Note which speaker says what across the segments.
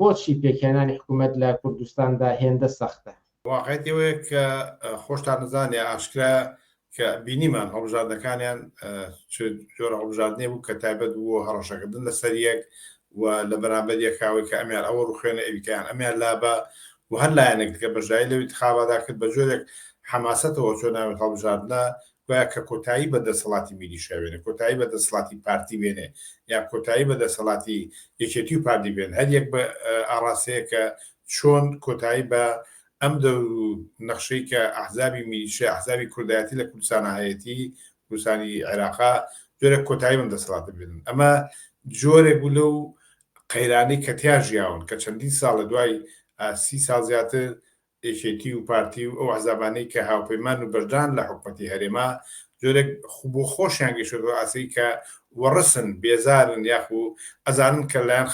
Speaker 1: بۆچی پێکهێنانی حکوومەت لە کوردستاندا هێندە سەختە؟ واقعیەتی ئەوەیە کە
Speaker 2: خۆشتان دەزانێ ئاشکرایە کە بینیمان هەڵبژاردنەکانیان چ جۆرە هەڵبژاردنێ بوو کە تایبەت بووە هەڕەشەکردن لەسەر یەک و لە بەرامبەر یەکاوەی کە ئەمیان ئەوە ڕوخێنە ئەویتیان ئەمیان لابە و هەر لایەنێک دیکە بەشداری لە انتخابادا کرد بە جۆرێک حەماسەتەوە چۆن ناوێت هەڵبژاردنە گوایە کە کۆتایی بە دەسەڵاتی میلیشیا بێنێ، کۆتایی بە دەسەڵاتی پارتی بێنێ، یان کۆتایی بە دەسەڵاتی یەکێتی و پارتی بێنێ، هەر یەک بە ئاڕاستەیەک کە چۆن کۆتایی بە ئەم دەور و نەخشەی کە ئەحزابی میلیشیا، ئەحزابی کوردایەتی لە کوردستانا هەیەتی، کوردستانی عێراقا، جۆرێک کۆتایی بەم دەسەڵاتە بێنن. ئەمە جۆرێک بوو لەو قەیرانەی کە تیا ژیاون، کە چەندین ساڵە، دوای سی ساڵ زیاتر، یەکێتی و پارتی و ئەو ئەحزابانەی کە هاوپەیمان و بەشدارن لە حکومەتی هەرێما، جۆرێک بۆ خۆشیان گەیشتۆتە ئاستێکی کە وەڕسن، بێزارن یاخو ئەزانن کە لەلایەن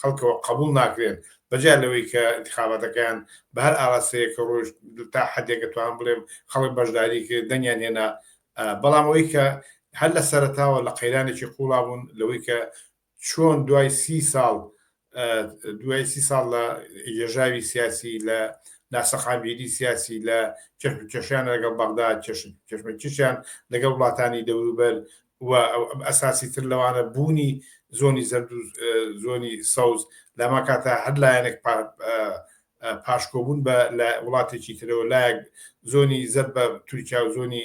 Speaker 2: خەڵکەوە قەبوڵ ناکرێن، بەجیا لەوەی کە ئینتخاباتەکەیان بە هەر ئاراستەیەک ڕۆیشت، تا حەدێک ئەتوانم بڵێم خەڵک بەشداری کرد، دەنگیان هێنا، بەڵام ئەوەی کە هەر لە سەرەتاوە لە قەیرانێکی قوڵا بوون لەوەی کە چۆن دوای سی ساڵ دوای سی ساڵ لە یێژاوی سیاسی لە ناسەقامگیری سیاسی لە کێشمکێشیان لەگەڵ بەغدا کێشمەکیشیان لەگەڵ وڵاتانی دەوروبەر و ئەساسی تر لەوانە بوونی زۆنی زەرد و زۆنی سەوز لەما کاتە هەر لایەنێک پاشکۆبوون بە لە وڵاتێکی ترەوە لایەک زۆنی زەر بە تورکیا و زۆنی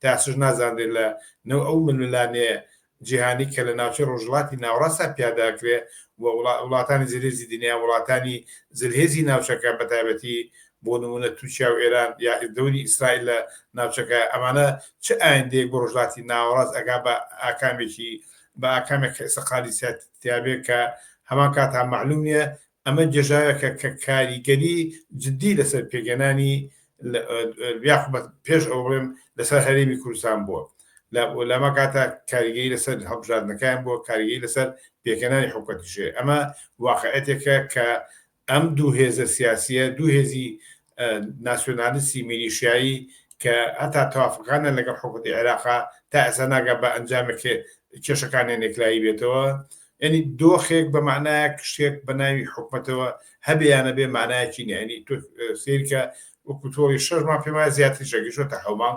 Speaker 2: تا چش نازانرێت لە نێو ئەو ململانێ جیهانی کە لە ناوچەی ڕۆژهڵاتی ناوەڕاستا پیادا ئەکرێ و وڵاتانی زلهێزی دنیا وڵاتانی زلهێزی ناوچەکە بە تایبەتی بۆ نموونە تورکیا و ئێران یا دەوری ئیسرائیل لە ناوچەکە ئەمانە چ ئایندەیەک بۆ ڕۆژهڵاتی ناوەڕاست ئەگا بە ئاکامێکی بە ئاکامێک کە ئێستا قالیسیات تیابێ کە هەمان کات هەم مەعلوم نییە ئەمە گێژاوێکە کە کاریگەری جدی لەسەر پێگەنانی یاخ بە پێش ئەو بڵێم لەسەر هەرێمی کوردستان بووە لەمە کاتە کاریگەی لەسەر هەڵبژاردنەکان بۆ کاریگەی لەسەر پێکەنانی حکوەتیشێ ئەمە واقعەتێکە کە ئەم دوو هێزە سیاسیە دوو هێزی ناسیۆنالیستی میلیشیایی کە هەتا تەوافقانە لەگەڵ حکوومەتی عێراقا تا ئێستا ناگا بە ئەنجامێک کێشەکانیان یەکلایی بێتەوە یعنی دۆخێک بە معنایە شتێک بە ناوی حکوومەتەوە هەبیانە بێ مانایەکی نیانی تۆ سیرکە وەکوتۆی شەرمان پێما زیاتر شەگەشۆتە حەومان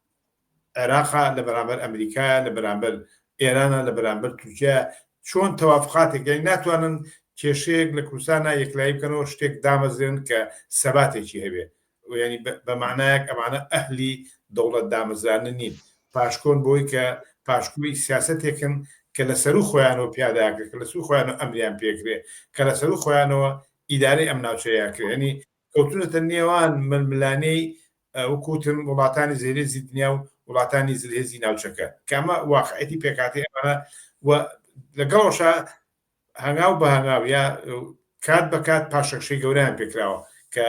Speaker 2: عێراقە لە بەرامبەر ئەمریکایە لە بەرامبەر ئێرانە لە بەرامبەر تورکیایە چۆن تەوافقاتێک یانی ناتوانن کێشەیەک لە کوردستانە یەکلایی بکەنەوە شتێک دامەزرێن کە سەباتێکی هەبێ ینی بە معنایەک ئەمانە ئەهلی دەوڵەت دامەزرانە نین پاشکۆن بۆی کە پاشکوی سیاستێکن کە لە سەرو خۆیانەوە پیاداکە کە لە سوو خۆیانەوە ئەمریان پێکرێ کە لە سەرو خۆیانەوە ئیدارەی ئەم ناوچەیە کرێنی کەوتونەتە نێوان ململانێی وەکو وتم وڵاتانی زلهێزی دنیا و وڵاتانی زلهێزی ناوچەکە کە ئەمە واقعیەتی پێکهاتەی ئەمانە و لەگەڵەوەشا هەنگاو بە هەنگاو یا کات بە کات پاشەکشەی گەوریان پێکراوە کە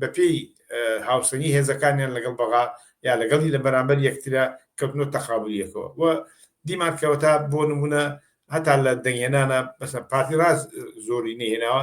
Speaker 2: بەپێی هاوسەنگی هێزەکانیان لەگەڵ بەغا یا لەگەڵی لە بەرامبەر یەکترە کەوتنۆ تەقابلیەکەوە و دیمان کەوە تا بۆ نمونە هەتا لە دەنگێنانە بەسە پارتی ڕاست زۆری نهێناوە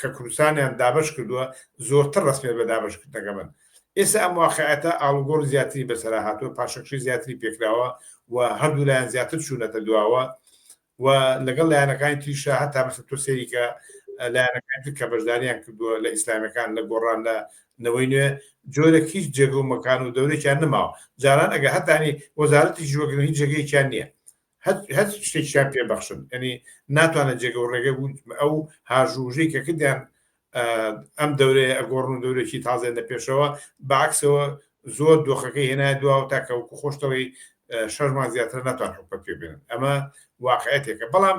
Speaker 2: کە کوردستانیان دابش کردووە زۆرتر ڕسمێت بە دابشکردنەکە بن ئێستا ئەم واقعەتە ئاڵگۆڕ زیاتری بەسەرا هاتووە پاشەکشی زیاتری پێکراوە و هەردوو لایەن زیاتر چوونەتە دواوە و لەگەڵ لایەنەکانی تریشە هەتا مەسە تۆ سێریکە لایەنەکان کە بەشداریان کردووە لە ئیسلامەکان لە گۆڕان لە نەوەی نوێ جۆرە هیچ جێگە و مەکان و دەورێکیان نماوە جاران ئەگە هەتانی وەزارەتی ژوەگرن هیچ جێگەیەکیان نییە هەر شتێکیان پێ بەخشن ئەنی ناتوانە جێگە و ڕێگە بوو ئەو هاژوژەی کە کردیان ئەم دەورەیە ئەگۆڕن و دەورێکی تازێن لە پێشەوە باکسەوە زۆر دۆخەکەی هێنای دواوە تاکەوەکو خۆشتەوەی شەرمان زیاتر ناتوان حکومە پێ بێنن ئەمە واقعەتێکە بەڵام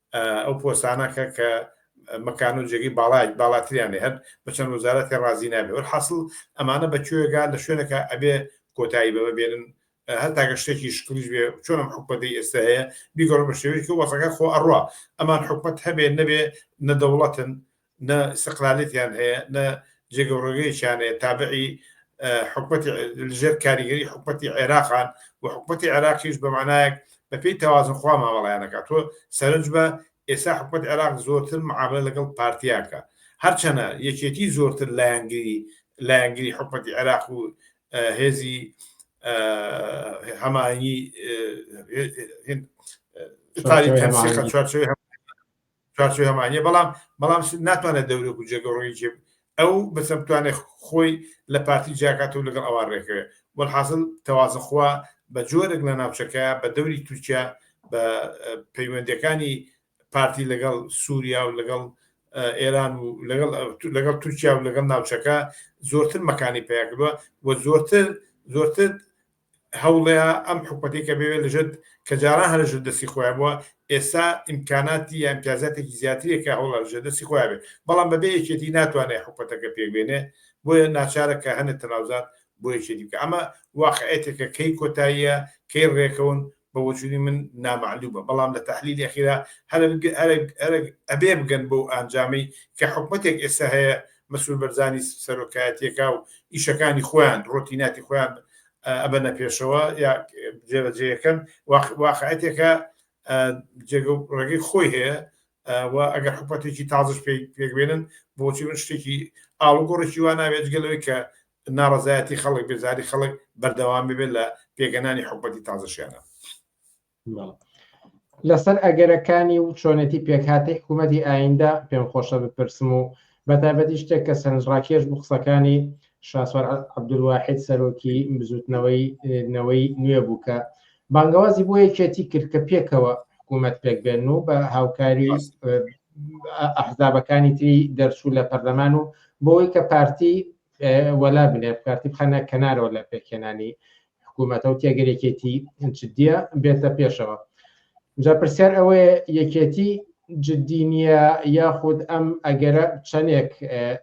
Speaker 2: ئەو پۆستانە کە کە مەکان و جێگەی باڵای باڵاتریان هەر بە چەند وەزارەتی ڕازی نابێ وەرحاصل ئەمانە بە کوێگان لە شوێنەکە ئەبێ کۆتایی بە ببێنن هەر تاگە شتێکی شکلیش بێ چۆنم حکومەتی ئێستا هەیە بیگەڕم بە شێوەیەکی وەسەکە خۆ ئەڕوا ئەمان حکومەت هەبێ نەبێ نەدەوڵەتن نە ئیستقلالیەتیان هەیە نە جێگە و ڕێگەیەکیان هەیە تابعی حکومەتی لەژێر کاریگەری حکومەتی عێراقان و حکومەتی عێراقیش بە مانایەک بەپێی تەوازنخوا مامەڵیانەکە تۆ سەرنج بە ئێستا حکومەت عێراق زۆرتر معاملە لەگەڵ پارتیاکە هەرچەنە یەکێتی زۆرتر لایەنگری لایەنگری حکومەتی عێراق و هێزی هەمانی چوارچێوەی هەمانە بەڵام بەڵام ناتوانێت دەورە و جێگە ڕۆی جێ ئەو بەسە بتوانێت خۆی لە پارتی جیاکات و لەگەڵ ئەوان ڕێکەوێت وەحاصل تەوازەخوا بە جۆرێک لە ناوچەکە بە دەوری تورکیا بە پەیوەندەکانی پارتی لەگەڵ سووریا و لەگەڵ ئێران و لەگەڵ لەگەڵ تورکیا و لەگەڵ ناوچەکە زۆرتر مەکانی پیاکردوە و زۆرتر زۆرتر هەوڵێا ئەم حکومەتەی کە بێوێ لەژێت کە جاران هەر لەژێت دەستی خۆیان بووە ئێستا ئیمکاناتی یا ئیمتیازاتێکی زیاترێک کە هەوڵە لەژێت دەستی خۆیان بێت بەڵام بەبێ یەکێتی ناتوانێت حکومەتەکە پێک بێنێ بۆیە ناچارە کە هەنێ تەناوزات بۆ یەکێتی بکە ئەمە واقعێتێکە کەی کۆتاییە کەی ڕێکەون بە بۆچونی من نامەعلومە بەڵام لە تەحلیلی ئەخیرا ئەبێ بگەن بەو ئانجامەی کە حکومەتێک ئێستا هەیە مەسرور بەرزانی سەرۆکایەتیەکا و ئیشەکانی خۆیان ڕۆتیناتی خۆیان ئەبەنە پێشەوە یا جێبەجێەکەن واقعەتێکە جێگە ڕێگەی خۆی هەیە و ئەگەر حکومەتێکی تازش پێکبێنن بۆچی من شتێکی ئاڵگۆڕێکی وا ناوێت گەلەوەی کە ناڕەزایەتی خەڵک بێزاری خەڵک بەردەوام ببێت لە پێگەنانی حکومەتی تازەشیانە.
Speaker 1: لەسەر ئەگەرەکانی و چۆنێتی پێکهاتی حکوومەتی ئایندە پێم خۆشە بپرسم و بە تایبەتی شتێک کە سەرنجڕاکێش بوو قسەکانی شاسوار عەبدولواحید سەرۆکی بزوتنەوەی نەوەی نوێ بوو کە بانگەوازی بۆ یەکێتی کرد کە پێکەوە حکوومەت پێک بێن و بە هاوکاری ئەحزابەکانی تری دەرچوو لە پەرلەمان و بۆی کە پارتی وەلا بنێ پارتی بخەنە کەنارەوە لە پێکهێنانی حکوومەتە و تێگەر یەکێتی جددیە بێتە پێشەوە جا پرسیار ئەوەیە یەکێتی جددی نییە یاخود ئەم ئەگەرە چەندێک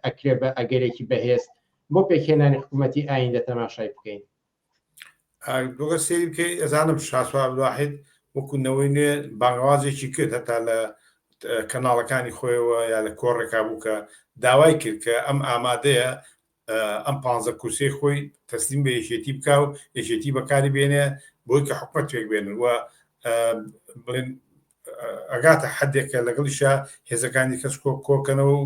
Speaker 1: ئەکرێ بە ئەگەرێکی بەهێز بۆ پێکهێنانی حکوومەتتی ئایندە تەماشای بکەین
Speaker 2: گۆگە سێری بکەی ئەزانم شاسوار واحد وەکو نەوەی نوێ بانگوازێکی کرد هەتا لە کەناڵەکانی خۆیەوە یا لە کۆڕێکا بوو کە داوای کرد کە ئەم ئامادەیە ئەم پ کورسی خۆی تەسلیم بە یەکێتی بک و یەکێتی بەکاری بێنێ بۆی کە حکومت توێک بێنن و بڵێن ئەگاتە حدێکە لەگەڵیشە هێزەکانی کەس کۆ کۆکەنەوە و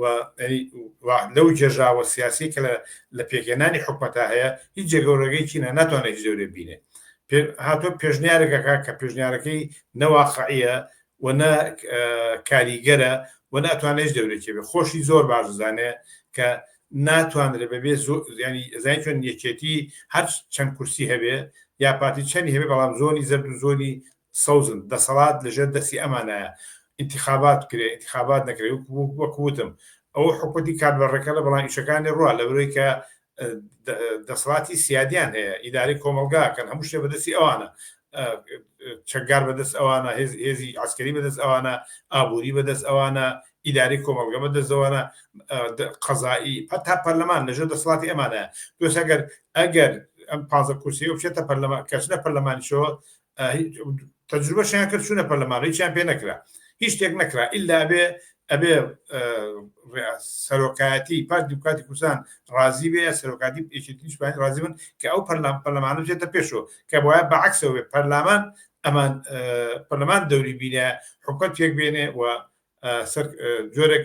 Speaker 2: و لەو گێژاوە سیاسیەی کە لە پێکهێنانی حکومەتا هەیە هیچ جێگەورەگەی چینە ناتوانێت هیچ لەورێ بینێ هاتۆ پێشنیارێکەکە کە پێشنیارەکەی نەواقعە و نە کاریگەرە و ناتوانێت دەورێکی بێ خۆشی زۆر باش زانێ کە ناتوانرێ بەبێ زۆریانی زای چۆن یەکێتی هەر چەند کورسی هەبێ یا پارتی چەنی هەبێ بەڵام زۆنی زەرد و زۆنی سەوزن، دەسەڵات لە ژێر دەستی ئەمانایە، ئینتیخابات بکرێ، ئینتیخابات نەکرێ، وەکو وتم ئەوە حکومەتی کاربەڕێکەرە بەڵام ئیشەکانی ڕوا لەبەرەوەی کە دەسەڵاتی سیادیان هەیە، ئیدارەی کۆمەڵگا ئەکەن، هەموو شتێ بەدەستی ئەوانە، چەکگار بەدەست ئەوانە، هێزی عەسکەری بەدەست ئەوانە، ئابووری بەدەست ئەوانە، ئیدارەی کۆمەڵگە بەدەست ئەوانە، قەزایی، هەتا پەرلەمان لە ژێر دەسەڵاتی ئەمانایە، بۆیە ئەگەر ئەگەر ئەم پازدە کورسییە بچێتە پەرلەمان، کە چنە پەرلەمانیشەوە تەجروبەشیان کرد چوونە پەرلەمان هیچیان پێ نەکرا هیچ شتێک نەکرا ئللا بێ ئەبێ سەرۆکایەتی پارت دیموکراتی کوردستان ڕازی بێ سەرۆکاتی پێشتیشپانی ڕازی بن کە ئەو پەرلام پەرلەمانە جێتە پێشەوە کە بۆە بە عکسەوە بێ پەرلامان ئەمان پەرلەمان دەوری بینە حکومت پێک بێنێ و سەر جۆرێک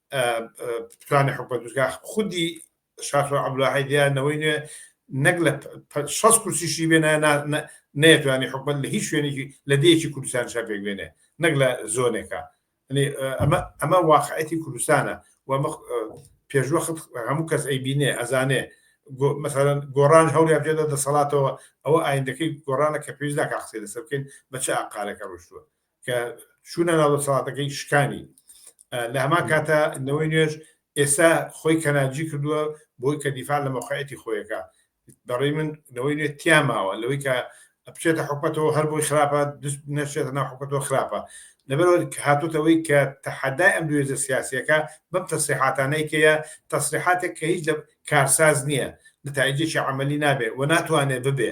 Speaker 2: توانێ حکومە دوزگا خودی شاخر عبدولاحی دیانەوەی نوێ نەک لە شەست کورسیشی بێنە نەیەتوانی حکومت لە هیچ شوێنێکی لە دەیەکی کوردستان شەپێک بێنێ نەک لە زۆنێکە ئەمە ئەمە واقعەتی کوردستانە و پێشوە هەموو کەس ئەی بینێ ئەزانێ مثلەن گۆڕان هەولی بێدە دەسەڵاتەوە ئەوە ئایندەکەی گۆڕانە کە پێویست ناکە قسەی لەسەر بکەین بە چ ئاقارەکە ڕشتووە کە چوونە ناو دەسەڵاتەکەی شکانی لە هەمان کاتە نەوەی نوێش ئێستا خۆی کەناجی کردووە بۆی کە دیفاع لە مەخایەتی خۆیەکە بەڕی من نەوەی نوێ تیاماوە لەوەی کە بچێتە حکوەتەوە هەر بۆی خراپە دست نەشێتە ناو حکوەتەوە خراپە لەبەرەوە هاتوتەوەی کە تەحەدای ئەم دوێزە سیاسەکە بەم تەسریحاتانەی کەە تەسریحاتێک کە هیچ لە کارساز نییە نتایجێکی عملی نابێ و ناتوانێت ببێ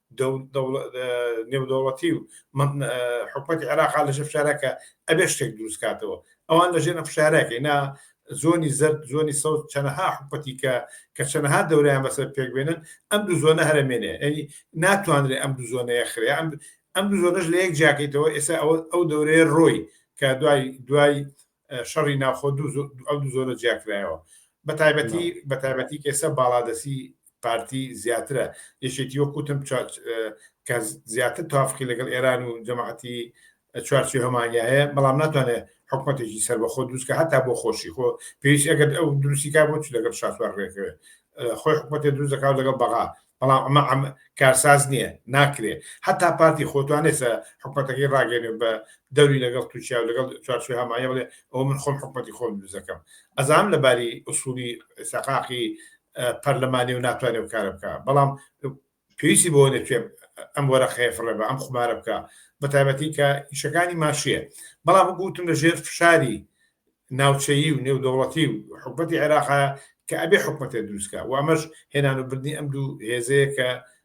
Speaker 2: نێودەوڵەتی و حکومەتی عێراقا لەژێ فشارەکە ئەبێ شتێک دروستکاتەوە ئەوان لەژێ نە فشارەکەی نا زۆنی زەر زۆنی سەوز چەنەها حکوپەتی کە کە چەنەها دەوریان بەسەر پێک بێنن ئەم دوو زۆنە هەرمێنێ ئەنی ناتوانرێ ئەم دوو زۆنەیە خرێ ئەم ئەم دوو زۆنەش لە یەک جیاکەیتەوە ئێستا ئەوە ئەو دەورەیە ڕۆی کە دوای دوای شەڕی ناوخۆ دوو ئەو دوو زۆنە جیاکرایەوە بە تایبەتی بە تایبەتی کێسە باڵادەسی پارتی زیاترە یەکێتی وەک وتم کە زیاتر تافقی لەگەڵ ئێران و جەماعەتی چوارچی هەمانیا هەیە بەڵام ناتوانێت حکوومەتێکی سەر بەخۆ دروستکە هەتا بۆ خۆشی خۆ پێویست ئەگەر ئەو دروستیکا بۆ چ لەگەڵ شاسوار ڕێکەوێت خۆی حکوومەتێ دروست دەکات لەگەڵ بەغا بەڵام ئەمە ئەم کارساز نییە ناکرێت هەتا پارتی خۆتوانێسە حکوومەتەکەی ڕاگەێنێ بە دەوری لەگەڵ تووشیا و لەگەڵ چوارچی هەمایە بڵێ ئەو من خۆم حکوومەتی خۆم دروستەکەم ئەزام لەباری ئوسولی سەقاقی پەرلەمانی و ناتوانێ و کارە بکە بەڵام پێویستی بۆ نەکوێ ئەم وەرە خەیفڕێ بە ئەم خمارە بکە بە تایبەتی کە ئیشەکانی ماشیە بەڵام گوتم لە ژێر فشاری ناوچەیی و نێودەوڵەتی و حکوومەتتی عێراقا کە ئەبێ حکوومەتێ دروستکە و ئەمەش هێنان و بردننی ئەم دوو هێزەیە کە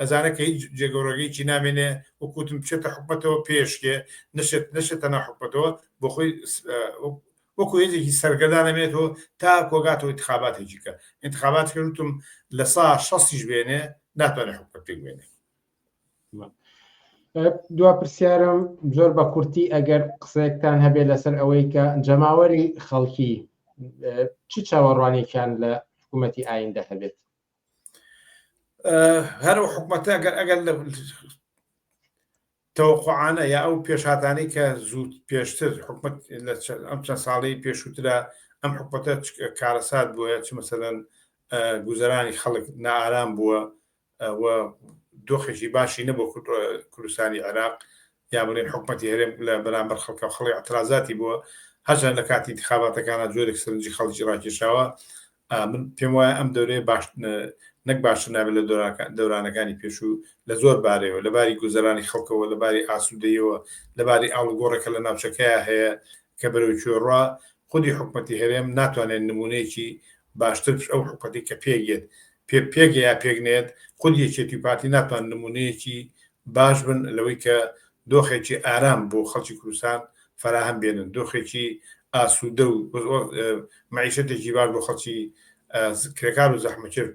Speaker 2: ئەزانێ کە هیچ جێگەورەگە هیچی نامێنێ وەکو وتم بچێتە حکومەتەوە پێشکێ نەشێت نەشێتە ناو حکومەتەوە بۆ خۆی وەکو هێزێکی سەرگەردان نەمێنێتەوە تا کۆگاتەوە انتخاباتێکی کە انتخابات کە وتم لە سا شەستیش بێنێ ناتوانێت حکومەت پێک بێنێ
Speaker 1: دوا پرسیارم زۆر بە کورتی ئەگەر قسەیەکتان هەبێت لەسەر ئەوەی کە جەماوەری خەڵکی چ چاوەڕوانێکیان لە حکوومەتتی ئایندە هەبێت
Speaker 2: هەر و حکومەتە ئەگەر ئەگەر لە تەوقعاانە یا ئەو پێشاتانی کە زود پێشتر حکومت لە ئەم چەند ساڵی پێشووترا ئەم حکومەتە کارەسات بووە چ مەسەن گوزەرانی خەڵک نارام بووە دۆخێکی باشی نەبوو کوردستانی عێراق یا بڵێین حکومەتی هەرێم لە بەرامبەر خەڵکە خەڵی ئەترازاتی بووە هەرچەند لە کاتی ئینتخاباتەکانە جۆرێک سەرنجی خەڵکی ڕاکێشاوە من پێم وایە ئەم دەورەیە باش نەک باشتر نابێت لە دەورانەکانی پێشوو لە زۆر بارەوە لە باری گوزەرانی خەڵکەوە لە باری ئاسوودەیەوە لە باری ئاڵگۆڕێکە لە ناوچەکەیە هەیە کە بەرەوکوێڕا خودی حکومەتی هەرێم ناتوانێت نمونەیەکی باشتر پشت ئەو حکومەتەی کە پێک یەت پێ پێک یا پێک نەیەت خود یەکێتی و پارتی ناتوان نمونەیەکی باش بن لەوەی کە دۆخێکی ئارام بۆ خەڵکی کوردستان فەراهەم بێنن دۆخێکی ئاسوودە و مەعیشەتێکی باش بۆ خەڵکی کرێکار و زەحمەکێش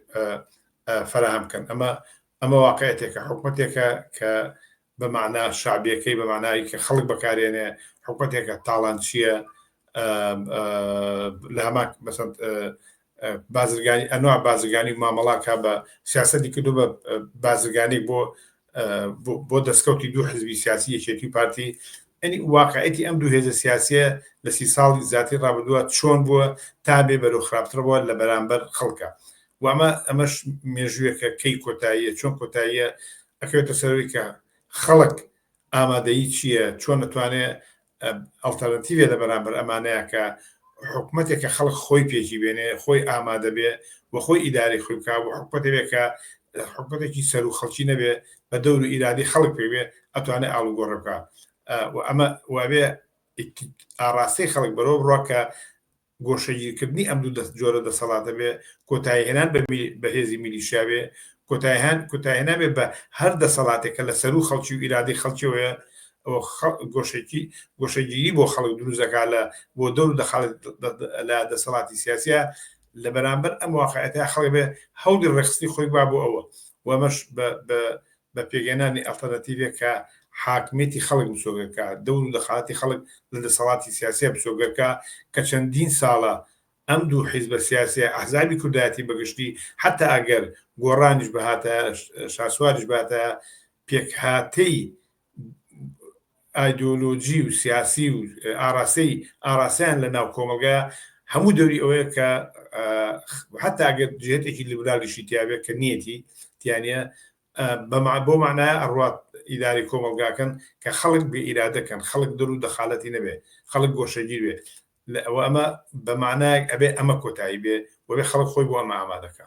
Speaker 2: فەراهەم بکەن ئەمە ئەمە واقعیەتێکە، حکومەتێکە کە بە مەعنا شەعبیەکەی، بە مەعنای کە خەڵک بەکارێنێ، حکومەتێکە تاڵانچیە، لە هەمان مەسەن بازرگانی ئەنواع بازرگانی و مامەڵا کا بە سیاسەتی کردو بە بازرگانی بۆ بۆ دەستکەوتی دوو حزبی سیاسی یەکێتی و پارتی ئەنی واقعەتی ئەم دوو هێزە سیاسیە لە سی ساڵی زیاتری ڕابدووە چۆن بووە تا بێ بەرو خراپترەوە لە بەرامبەر خەڵکە و ئەمە ئەمەش مێژوویەکە کەی کۆتاییە چۆن کۆتاییە ئەکەوێتە سەرەوەی کە خەڵک ئامادەیی چییە چۆن نتوانێ ئەڵتەرنتیوێ لە بەرامبەر ئەمانەیە کە حکوومەتێک کە خەڵک خۆی پێکی بێنێ خۆی ئامادە بێ و خۆی ئیداری خۆی بکە و حکوومەتێک کە حکوومەتێکی سەر و خەڵکی نەبێ بە دەور و ئیرادی خەڵک پێوێ ئەتوانێت ئاڵوگۆڕ بکە و ئەمە وابێ ئاڕاستەی خەڵک بەرەوە بڕە کە گۆشەگیرکردنی ئەم دوو دەست جۆرە دەسەڵاتە بێ، کۆتاییهێنان بە بە هێزی میلیشیا بێ، کۆتاییهان کۆتاییهێنان بێ بە هەر دەسەڵاتێک کە لە سەروو خەڵکی و ئیرادەی خەڵکیەوەیە و خە گۆشەکی گۆشەگیری بۆ خەڵک دروست دەکا لە بۆ دەور دەخاڵێت دە دە لە دەسەڵاتی سیاسیا لە بەرامبەر ئەم واقعیەتە خەڵک بێ هەولی ڕێکخستنی خۆی با بۆ ئەوە و ئەمەش بە بە بە پێکهێنانی ئەڵتەرناتیڤێک کە حاکمیەتی خەڵک مسۆگەر کا، دەور و دەخاڵەتی خەڵک لە دەسەڵاتی سیاسیە مسۆگەر کا، کە چەندین ساڵە ئەم دوو حیزبە سیاسیە، ئەحزابی کوردایەتی بە گشتی، حەتا ئەگەر گۆڕانیش بهاتایە، شاسواریش بهاتایە، پێکهاتەی. ئایدۆلۆژی و سیاسی و ئاراستەی ئاراستەیان لە ناو کۆمەڵگا هەموو دەوری ئەوەیە کە حتا ئەگەر جێتێکی لیبرالیشی تیاێ کە نیەتی تیانە بۆ مانایە ئەڕات ئیداری کۆمەلگاکەن کە خەڵک بێ ئیرادەکەن خەڵک دەر و دەخالەتی نەبێ خەڵک گۆشەگیر بێ ئەوە ئەمە بەمانایەک ئەبێ ئەمە کۆتایی بێ وەێ خەڵک خۆی بۆ ئەمە ئامادەکە